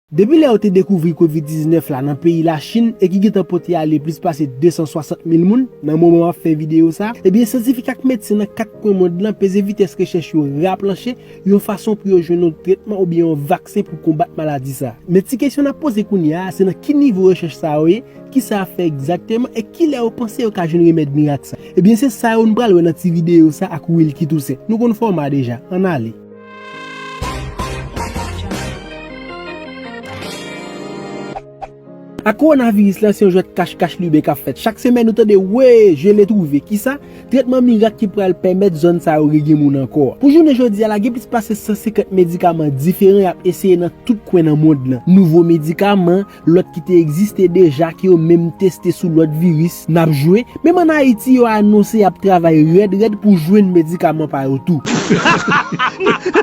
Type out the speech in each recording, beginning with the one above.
Depi lè yo te dekouvri kovid 19 la nan peyi Lachin e ki gentan pote ale plis pase 260 mil moun nan moman map fè videyo sa, ebyen syantifik ak medsen nan 4 kwen mond lan peze vitès rechèch yo raplanche yon fason pou yo jwenn yon tretman oubyen yon vaksen pou konbat maladi sa. Men ti kesyon nap poze kounya a se nan ki nivo rechèch sa yo ye, kisa yap fè egzakteman e kilè yo panse yo ka jwenn remèd mirak sa. Ebyen se sa yo nou pral wè nan ti videyo sa ak Wilky Toussaint. Nou konn fòma deja, ann ale. A Kowonaviris la se yon jwèt kach kach lube k ap fèt. Chak semèn nou tande wee, je l'ai trouvé. Kisa? Tretman mirak ki pral pèmèt zòn sa yo regne moun ankò. Pou jounen jodi a la gen plis pase 150 medikaman diferan y ap eseye nan tout kwen nan mond lan. Nouvo medikaman, lòt ki te egziste deja ke yo menm teste sou lòt viris nap jwe, menm an Ayiti yo anonse yap travay rèd rèd pou jwenn medikaman pa yo tou.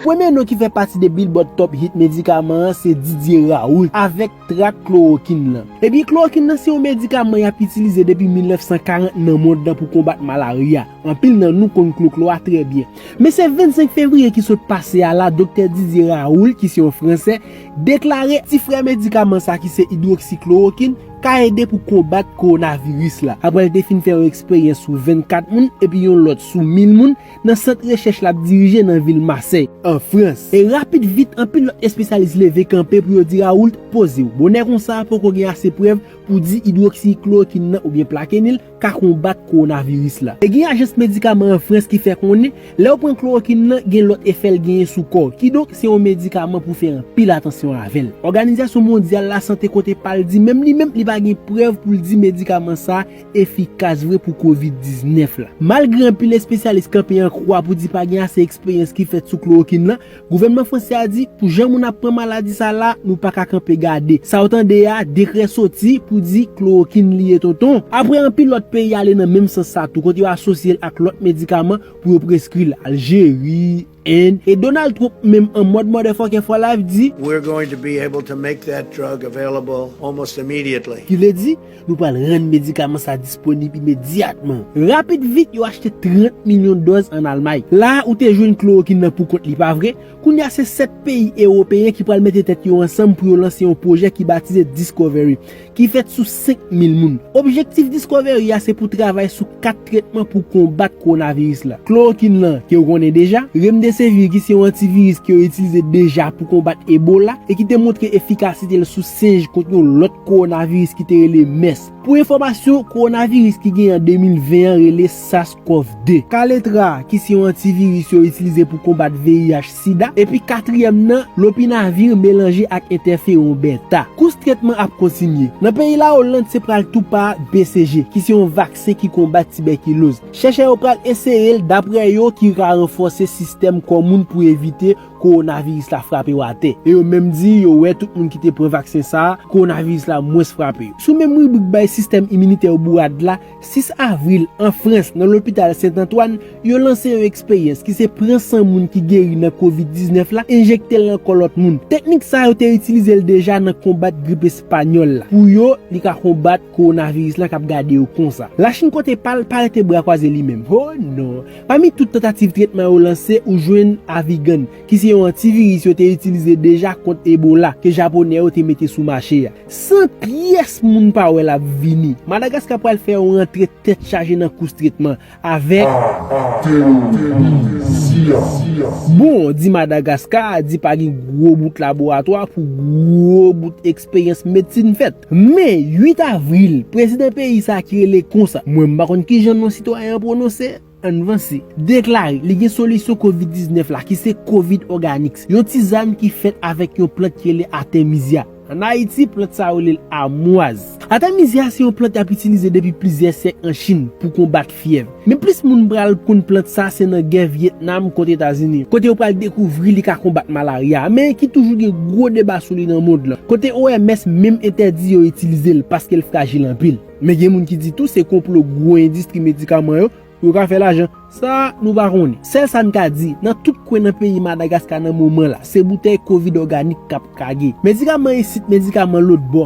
Premye non ki fè pati de Billboard Top Hit medikaman an se Didier Raoult avèk trak klorokin lan. Ebyen klorokin lan se yon medikaman yap itilize depi 1940 nan mond lan pou konbat malarya, anpil nan nou konn kloklo a trè byen. Men se 25 fevriye ki sot pase a la Doktè Didier Raoult ki se yon fransè deklare ti frè medikaman sa ki se idwoksiklorokin ka ede pou konbat kowonaviris la aprè l te fin fè yon eksperyans sou 24 moun epi yon lòt sou 1000 moun nan sant rechèch l ap dirije nan vil Masèy, an Frans. E rapid vit anpil lòt espesyalis leve kanpe pou yo di Raoult, poze w bonè konsa poko gen ase prèv pou di idwoksiklorokin nan oubyen plakenil, ka konbat kowonaviris la. E gen ajans medikaman an Frans ki fè konnen, lè ou pran klorokin nan, gen lòt efè l genyen sou kò w. Kidonk, se yon medikaman pou fè anpil atansyon avè l. Òganizasyon mondyal lasante kote pa l di menm li menm li pa gen prèv pou l di medikaman sa efikas vre pou kovid 19 la. Malgre anpil espesyalis kanpe an kwa pou di pa gen ase eksperyans ki fèt sou klorokin lan, Gouvènman fransè a di pou jan moun ap pran maladi sa la nou paka kanpe gade. Sa w tande a, dekrè soti pou di klowokinn li ye tonton. Aprè anpil lòt peyi ale nan menm sans sa tou kote yo asosye l ak lòt medikaman pou yo preskri l, Aljeri, End, e Donald Trump menm an mòd mòdèfòkè for life di, We're going to be able to make that drug available almost immediately. Ki vle di, Nou pral rann medikaman sa disponib imedyatman. Rapid vit yo achte 30 milyon dòz an Almay. La a ou te jwenn klorokin nan pou kont li pa vre? Kounye a se 7 peyi ewopeyen ki pral mete tèt yo ansanm pou yo lanse yon pwojè ki batize Discovery, ki fèt sou 5 mil moun. Objektif Discovery a se pou travay sou 4 tretman pou konbat kowonaviris la. Klorokin lan, ke ou konnen deja, Remdesevir ki se yon antiviris ke yo itilize deja pou konbat Ebola e ki te montre efikasite l sou sinj kont yon lòt kowonaviris ki te rele mès. Pou enfòmasyon, kowonaviris ki genyen an 2020 an rele sars-cov 2. Kaletra, ki se yon antiviris yo itilize pou konbat VIH, sida, epi katriyèm nan, lopinavir melanje ak entèferon bèta. Kous tretman ap kontinye. Nan peyi Lawoland se pral tou pa BCG, ki se yon vaksen ki konbat tibèkiloz. Chèchè yo pral eseye l, daprè yo, ki ka ranfòse sistèm kò moun pou evite kowonaviris la frape yo atè, e yo menm di yo wè tout moun ki te pran vaksen sa a, kowonaviris la mwens frape yo. Sou menm ribrik bay sistèm iminitè yo bourad la, 6 avril, an Frans, nan lopital Sent Antwàn, yo lanse yon eksperyans ki se pran san moun ki geri nan kovid 19 la, enjekte l nan kò lòt moun. Teknik sa a yo te itilize l deja nan konbat grip espanyòl la. Pou yo, li ka konbat kowonaviris la k ap gade yo konsa. Lachin kote pa l, pa rete bra kwaze li menm. Ho non! Pami tout tantativ tretman yo lanse ou jwenn Avigan, ki se yon antiviris yo te itilize deja kont Ebola, ke Japonè yo te mete sou mache a. San pyès moun pa wè l ap vini, Madagaska pral fè yon rantre tèt chaje nan kous tretman avèk. Bon, di Madagaska, di pa gen gwo bout laboratwa pou gwo bout. Eksperyans medsin fèt. Men, 8 avril, prezidan peyi sa a ki rele konsa, mwen m pa konn ki jan non sitwayen an pwononse, ann vanse, deklare li gen solisyon kovid 19 la ki se Kovid Organics, yon tizann ki fèt avèk yon plant ki rele Artemisia. Ann Ayiti, plant sa a yo rele l amwaz. Artemisia se yon plant y ap itilize depi plizyè syèk an Chin pou konbat. fyèv. Men plis moun pral konn plant sa se nan gè Vyetnam kont Etazini, kote yo pral dekouvri li ka konbat malarya, men ki toujou gen gwo deba sou li nan mond lan, kote OMS menm entèdi yo itilize l paske l frajil anpil. Men gen moun ki di tou se konplo gwo endistri medikaman yo pou yo ka fè lajan. Sa, nou pa konnen. Sèl sa n ka di, nan tout kwen nan peyi Madagaska nan moman la, se boutèy kovid òganik k ap kage. Medikaman isit, medikaman lòtbò.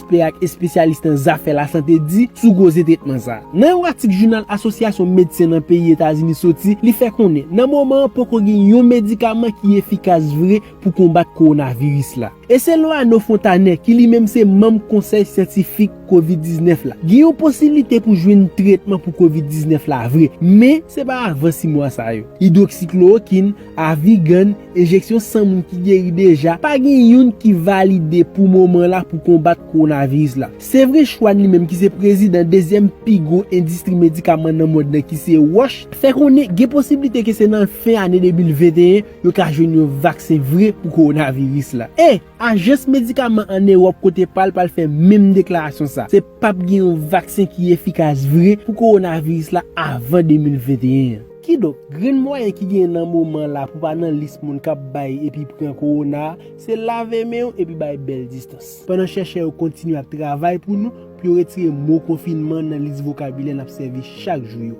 Ekspè ak espesyalis nan zafè lasante di sou koze tretman sa. Nan yon atik jounal Asosyasyon Medsen nan peyi Etazini soti, li fè konnen nan moman an poko gen yon medikaman ki efikas vre pou konbat kowonaviris la. E selon Anno Fontanet, ki li menm se manm konsèy syantifik Kovid 19 la, gen yon posiblite pou jwenn tretman pou Kovid 19 la vre, men se pa avan 6 mwa sa yo. Idwoksiklowokinn, Avi Gann, Enjeksyon san moun ki geri deja pa gen youn ki valide pou moman la pou konbat kowonaviris la. Se vre Schwann li menm ki se prezidan dezyèm pi gwo endistri medikaman nan mond lan ki se Roche, fè konnen gen posiblite ke se nan fen ane 2021 yo ka jwenn yon vaksen vre pou kowonaviris la. E, ajans medikaman an Ewòp kote pa l pral fè menm deklarasyon sa, se pap gen yon vaksen ki efikas vre pou kowonaviris la avan 2021 an. Kidonk, grenn mwayen ki genyen nan moman la pou pa nan lis moun k ap bay epi pran kowona a, se lave men w epi bay bèl distans. Pandan chèchè yo kontinye ap travay pou nou pou yo retire mo konfinman nan lis vokabilè n ap sèvi chak jou yo.